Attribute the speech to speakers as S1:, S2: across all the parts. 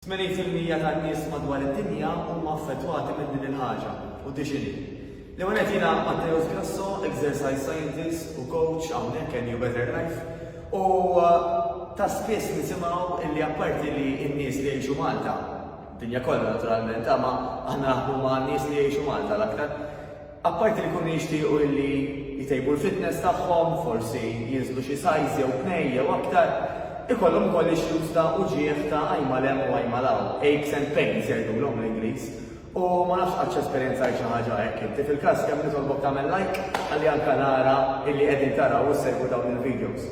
S1: Tmenin fil-mija tan-nies madwar id-dinja huma affettwati minn din il-ħaġa, u tix inhi? L-ewwel nett jiena Matteus Grasso, exercise scientist u coach hawnhekk NU Better Life, u ta' spiss nisimgħu illi apparti li n-nies li jgħixu Malta, dinja kollha naturalment, imma aħna naħdmu ma' nies li jgħixu Malta l-aktar, Apparti li jkunu jixtiequ illi jtejbu l-fitness tagħhom, forsi jinżlu xi size jew tnejn jew aktar, ikollhom ukoll issues ta' uġigħ ta' għajn mal hemm u għajn mal hawn, aches and pains jgħidulhom bl-Ingliż. U ma nafx qattx esperjenzajt xi ħaġa hekk inti. Fil-każ kemm nitolbok tagħmel like ħalli anke nara illi qegħdin taraw u ssegwu dawn il-videos.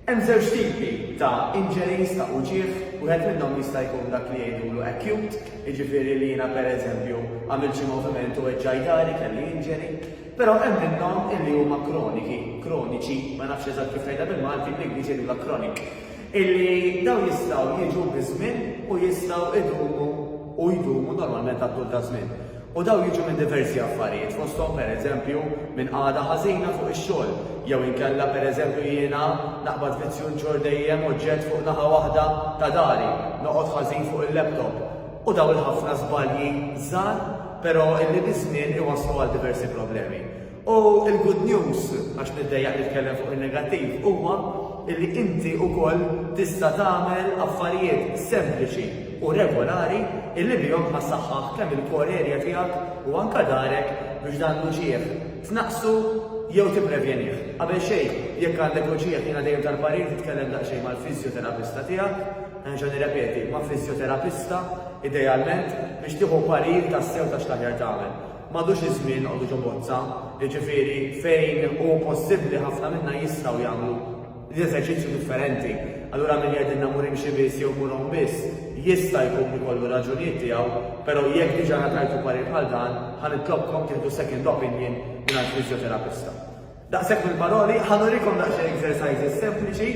S1: Hemm żewġ tipi ta' injuries ta' uġigħ, wieħed minnhom jista' jkun dak li jgħidulu acute, jiġifieri li jiena pereżempju għamilt xi moviment u weġġaj dahri, kelli injury. Però hemm minnhom illi huma kroniki, kroniċi, ma nafx eżatt kif tgħidha bil-Malti, bl-Ingliż jgħidulha chronic, illi dawn jistgħu jiġu biż-żmien u jistgħu jdumu u jdumu normalment għat-tul taż-żmien. U dawn jiġu minn diversi affarijiet, fosthom pereżempju minn qagħda ħażina fuq ix-xogħol, jew inkella pereżempju jiena naqbad vizzju nġorr dejjem oġġett fuq naħa waħda ta' dari, noqgħod ħażin fuq il-laptop. U dawn il-ħafna żbalji żgħar, però illi biż-żmien iwasslu għal diversi problemi. U l-good news, għax niddejjaq nitkellem fuq in-negattiv, huwa li inti wkoll tista' tagħmel affarijiet sempliċi u regolari illi bihom ħa ssaħħaħ kemm il-core area tiegħek u anke darek biex dan l-uġigħ tnaqqsu jew tipprevjenih. Qabel xejn, jekk għandek uġigħ jiena dejjem tal-parir titkellem daqsxejn mal-fiżjoterapista tiegħek, nerġa' nirrepeti, ma' fiżjoterapista idealment biex tieħu parir tassew ta' x'l-aħjar tagħmel. M'għadux iż-żmien noqogħdu ġo bozza, jiġifieri fejn hu possibbli ħafna minna jistgħu jagħmlu l-eżerċizzju differenti. Allura min jgħidilna mur imxi biss jew mur għum biss, jista' jkun ikollu r-raġunijiet tiegħu, però jekk diġà ngħatajtu parir bħal dan, ħa nitlobkom tieħdu second opinion mingħand fiżjoterapista. Daqshekk mill-paroli, ħa nurikom daqsxejn exercises sempliċi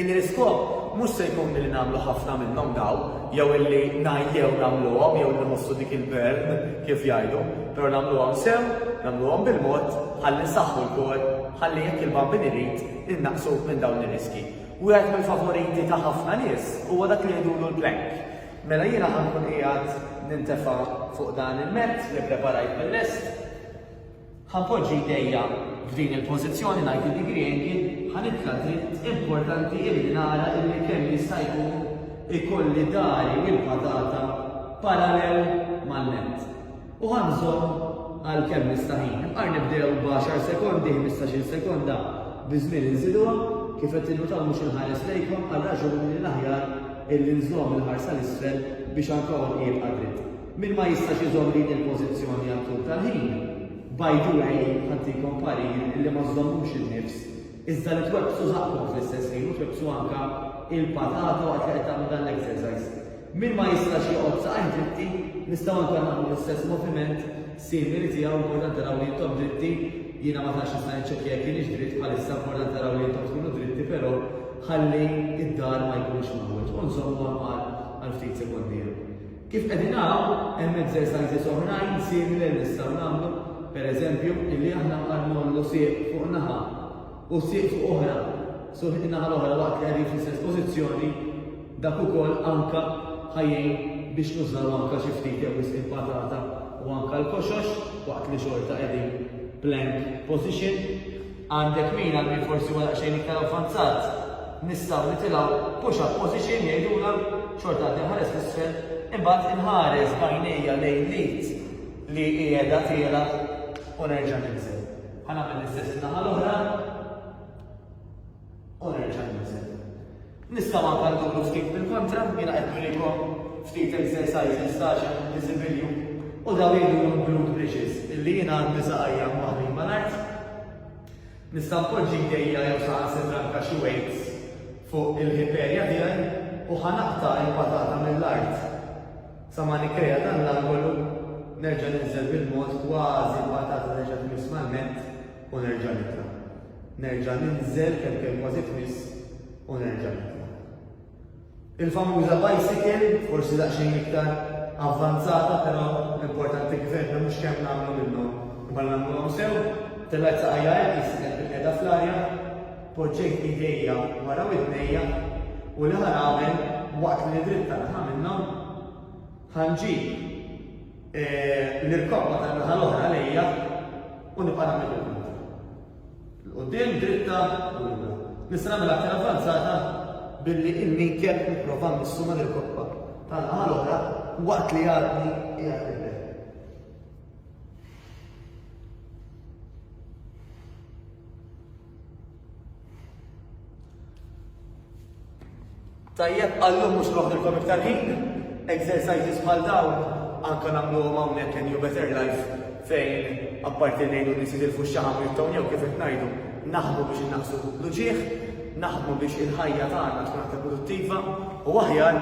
S1: illi l-iskop mhux se jkun li nagħmlu ħafna minnhom daw, jew illi ngħajjew nagħmluhom jew li nħossu dik il-burn kif jgħidu, però nagħmluhom sew, nagħmluhom bil-mod, ħalli nsaħħu l-kor, ħalli jekk il-bambin irid innaqsu minn dawn ir-riski. Wieħed mill-favoriti ta' ħafna nies huwa dak li jgħidulu l-plank. Mela jiena ħankun qiegħed nintefa' fuq dan il-mezz li preparajt mill-lest, Ħa poġġi jdejja f'din il-pożizzjoni ngħid lil Griegi ħa nitla' dritt importanti illi nara illi kemm jista' jkun ikolli dari u l-patata parallel mal-nett. U ħa nżomm għal kemm nista' ħin. Imqar nibdew b'għaxar sekondi, ħmistax-il sekonda, biż-żmien inżiduha, kif qed tinnutaw mhux inħares lejkom għal raġuni li l-aħjar illi nżomm il-ħarsa 'l isfel biex anka għonqi jibqa' dritt. Min ma jistax iżomm din il-pożizzjoni għal tul tal-ħin, by the way, ħantikom parir illi ma żżommux in-nifs, iżda li twebbsu żaqqkom fl-istess ħin u twebbsu anke l-patata waqt li qed tagħmlu dan l-exercise. Min ma jistax joqgħod saqajh dritti, nistgħu anke nagħmlu l-istess moviment simili tiegħu, importanti naraw li intom dritti, jiena ma tantx nista' niċċekkja jekk kienx dritt bħalissa, importanti naraw li intom tkunu dritti però ħalli d-dar ma jkunx mgħawweġ u nżommu għal ftit sekondi. Kif qegħdin hawn, hemm exercises oħrajn simili li nistgħu nagħmlu, per eżempju, illi aħna bħal ngħollu sieq fuq naħa u sieq fuq oħra, so in-naħa l-oħra waqt li qegħdin fl-istess pożizzjoni, dak ukoll anke ħa jgħin biex nużaw anke xi ftit jew wisq il-patata u anke l-koxox waqt li xorta qegħdin plank position. Għandek min għal min forsi huwa daqsxejn iktar avvanzat, nistgħu nitilgħu push up position jgħidulha, xorta għad inħares l-isfel, imbagħad inħares b'għajnejja lejn l-id li qiegħda tiela' u nerġa' ninżel. Ħa nagħmel l-istess in-naħa l-oħra u nerġa' ninżel. Nistgħu anke nduru ftit bil-kontra, jiena qed nurikom ftit exercises ta' għax hemm diżibilju u dawn jgħidulhom glute bridges illi jiena għandi saqajja mwaħħlin mal-art. Nista' npoġġi jdejja jew saħansitra anke xi weights fuq il-hip area tiegħi u ħa naqta' il-patata mill-art sa ma nikkrea dan l-angolu, nerġa' ninżel bil-mod kważi l-patata terġa' tmiss mal-mat, u nerġa' nitla'. Nerġa' ninżel kemm kemm kważi tmiss u nerġa' nitla'. Il-famuża bicycle, forsi daqsxejn iktar avvanzata però l-importanti kif għedna mhux kemm nagħmlu minnhom imma li nagħmluhom sew, tellgħet saqajja hekk li sibtha kif qiegħda fl-arja, poġġejt idejja wara widnejja u li ħa nagħmel waqt li nidritta li ħa minnhom? Ħa nġib. Nirkoppa tan-naħa l-oħra lejja u nibqa' nagħmel il-punta. L-quddiem dritta u lura. Nista' nagħmel aktar avvanzata billi il-minkel nipprova nissu ma' nirkoppa tan-naħa l-oħra waqt li għadni qiegħed nibel. Tajjeb, għallum mhux noħdilkom iktar ħin, exercises bħal dawn anke nagħmluhom hawnhekk in New Better Life fejn apparti ngħidu li sidil fuq xaħam jibtgħu jew kif qed ngħidu naħdmu biex innaqsu l-uġieħ, naħdmu biex il-ħajja tagħna tkun aktar produttiva u aħjar